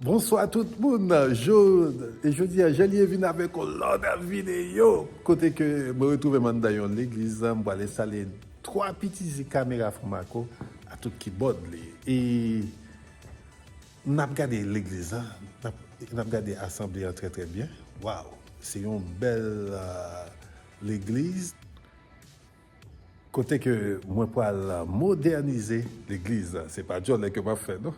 Bonswa tout moun, Jod, e jodi a Jelie vin avèk yon lòt videyo kote ke mwen retwouvem anndan yon legliz, m pral enstale 3 pitizi kamera Fromaco a tout kibòd li e nap gade legliz la, nap gade asanble an trè trè byen, waw se yon bèl legliz. Kote ke mwen pral modènize legliz la. Se pa djòlè ke map fè non.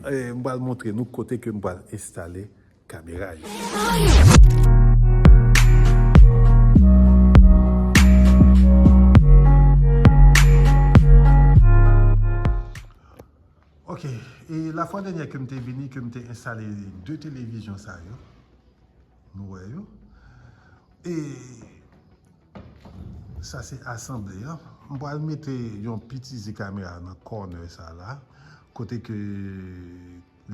M pral montre nou kote ke m pral enstale kamera yo. Ok, e la fwa dènyè ke m te vini, ke m te enstale 2 televizyon sa yo. Nou wè yo. E... Sa se asanble an. M pral mete yon piti ze kamera nan corner sa la kote ke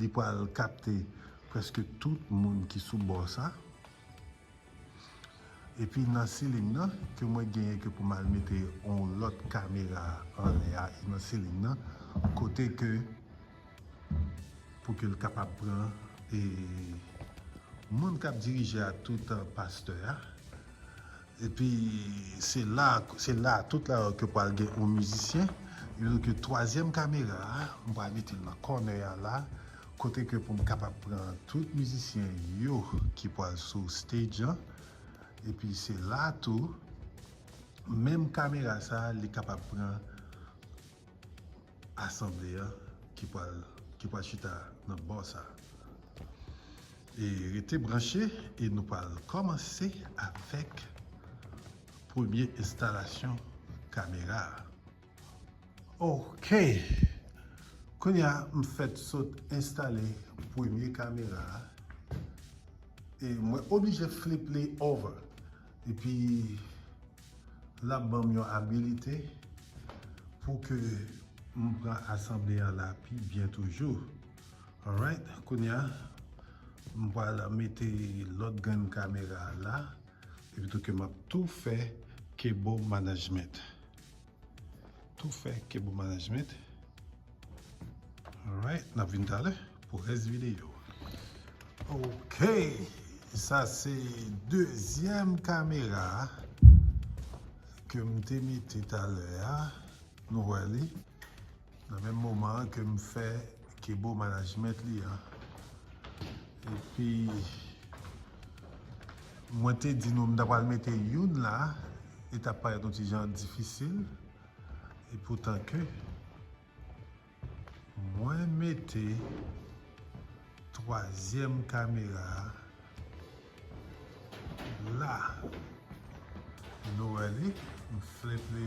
li pral kapte preske tout moun ki sou bò sa. Epi nan ceiling nan ke mwen genyen ke pou m al mete yon lòt kamera anlè a e nan ceiling nan kote ke Pou ke l kapab pran e moun kap dirije a tout an pastè a epi se la se la tout la ke pwal gen yon mizisyen epi ke twazyèm kamera a m pwal mete l nan kònè a la kote ke pou m kapab pran tout mizisyen yo ki pwal sou stage an epi se la tou menm kamera sa li kapab pran Asanble a ki pral ki pral chita nan bò sa. E rete branche e nou pral kòmanse avèk premye enstalasyon kamera a. Ok! Kounye a m fèt sot enstale premye kamera a e mwen oblije flip li over. Epi l ap ban m yon abilite pou ke m pran asanble a la pi byen toujou. Alright, kounye a, m pral mete lòt grenn kamera a la epitou ke m ap tou fè Kebo Management. Tou fè ke bon management. Alright, nap vin talè pou rès videyo. Ok, sa se dezyèm kamera ke m te mete talè a, nou wè li. Nan menm moman an ke m fè Kebo management li an. Epi mwen te di nou m ta pral mete youn la, li ta parèt yon ti jan difisil. E poutan ke mwen mete twazyèm kamera a la. Nou wè li, m flip li.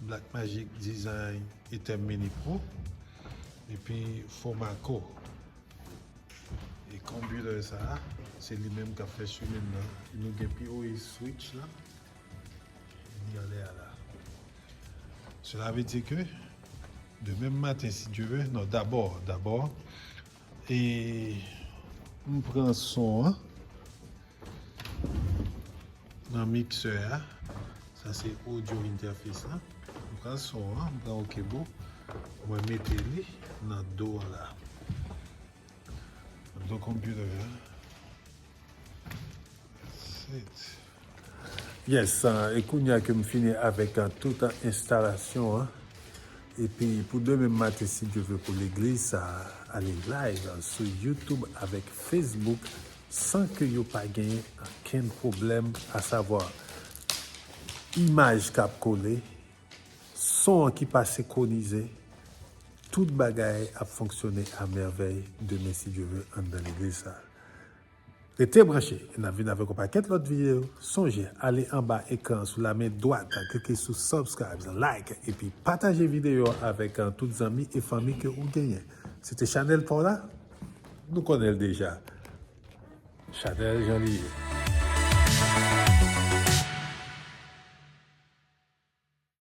Black magic design e tèm mini pro epi fomaco e computer sa se li menm kap fè swimin nan nou gen pi oe switch la li anlè a la cela veut dire que de menm maten si Dieu veut non d'abord d'abord E m pran son an nan mixer a. Sa se audio interface lan. M pran son an, m pran ok boo. Mwen mete li nan do la. Nan do computer a. Yes, e kounya ke m fini avèk tout enstalasyon an, epi pou demen m maten si Dye vle pou legliz sa a ale live sou YouTube avèk Facebook san ke yo pa gen okenn pwoblèm asavwa imaj k ap kole, son an ki pa sekonize, tout bagay ap fonksyone a mèvèy demen si Dye vle anndan legliz sa a. Rete branche e nap vin avèk yon pakèt lòt videyo, sonje ale anba ekran sou la men dwat klike sou subscribes, like epi pataje videyo a avèk tout zanmi e fanmi ke ou genyen. Se te chanèl paw la, nou konnen l deja, chanèl jan li ye.